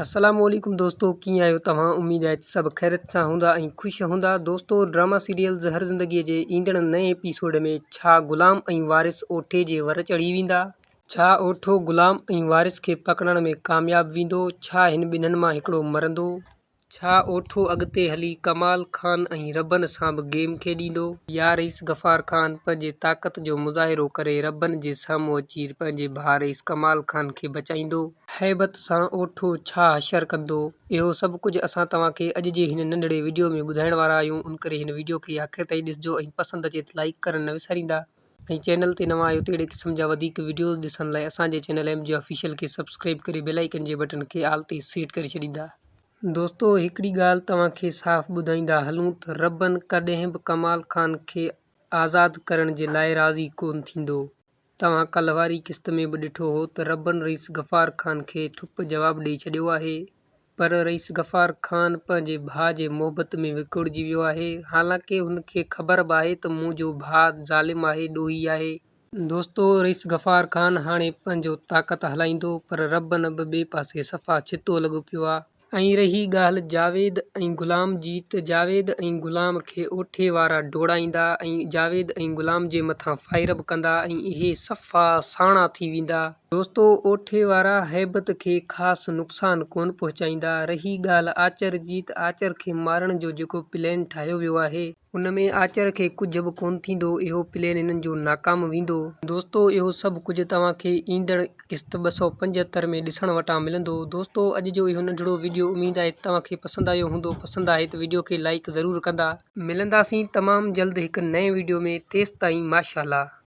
اسلام عليڪم دوستو ڪيئن آهيو توهان اميد آهي ته سڀ خيرت سان هوندا ۽ خوش هوندا دوستو ڊراما سيريل زهر زندگي جي ايندڙ نئين ايپيسوڊ ۾ ڇا غلام ۽ وارث اوٺي جي ور چڙهي ويندا ڇا اوٺو غلام ۽ وارث کي پڪڙڻ ۾ ڪامياب ويندو ڇا هن ٻنهن مان هڪڙو مرندو ڇا اوٺو اڳتي هلي ڪمال خان ۽ ربن سان به گيم کيڏيندو. يا رئيس غفار خان پنهنجي طاقت جو مظاهرو ڪري ربن جي سامهون اچي پنهنجي ڀاء رئيس ڪمال خان کي بچائيندو. هيبت سان اوٺو ڇا حشر ڪندو. اهو سڀ ڪجهه اسان توهان کي اڄ جي هن ننڍڙي وڊيو ۾ ٻڌائڻ وارا آهيون ان ڪري هن وڊيو کي آخر تائين ڏسجو ۽ پسند اچي ته لائيڪ ڪرڻ نه وساريندا ۽ چينل تي نوان آهيو ته اهڙي قسم جا وڌيڪ وڊيوز ڏسڻ لاء اسان جي چينل ايم جي آفيشل کي سبسڪرائيب ڪري بيل آئيڪن جي بٽن کي آل تي سيٽ ڪري ڇڏيندا. دوستو هڪڙي ڳالهه توهان کي صاف ٻڌائيندا هلون ته ربن ڪڏهن به ڪمال خان کي آزاد ڪرڻ جي لاء راضي ڪون ٿيندو. توهان ڪلهه واري قسط ۾ به ڏٺو هو ته ربن رئيس غفار خان کي ٺپ جواب ڏئي ڇڏيو آهي پر رئيس غفار خان پنهنجي ڀاء جي محبت ۾ وڪوڙجي ويو آهي حالانڪه هن کي خبر به آهي ته منهنجو ڀاء ظالم آهي ڏوهي آهي. دوستو رئيس غفار خان هاڻي پنهنجو طاقت هلائيندو پر ربن به ٻئي پاسي صفا ڇتو لڳو پيو آهي. ۽ رهي ڳالهه جاويد ۽ غلام جي ته جاويد ۽ غلام کي اوٺي وارا ڊوڙائيندا ۽ جاويد ۽ غلام جي مٿان فائر به ڪندا ۽ اهي صفا ساڻا ٿي ويندا. دوستو اوٺي وارا هيبت کي خاص نقصان ڪونه پهچائيندا. رهي ڳالهه آچر جي ته آچر کي مارڻ جو جيڪو پلين ٺاهيو ويو آهي. ان ۾ آچر کي ڪجهه به ڪونه ٿيندو، اهو پلين هنن جو ناڪام ويندو. دوستو اهو سڀ ڪجهه توهان کي ايندڙ قسط ٻه سؤ پنجهتر ۾ ڏسڻ وٽان ملندو. دوستو اڄ جو اهو ننڍڙو وڊيو اميد آهي ته توهان کي پسند آيو هوندو، پسند آهي ته وڊيو کي لائيڪ ضرور ڪندا. ملنداسين تمام جلد هڪ نئين وڊيو ۾ تيستائين ماشاءالله.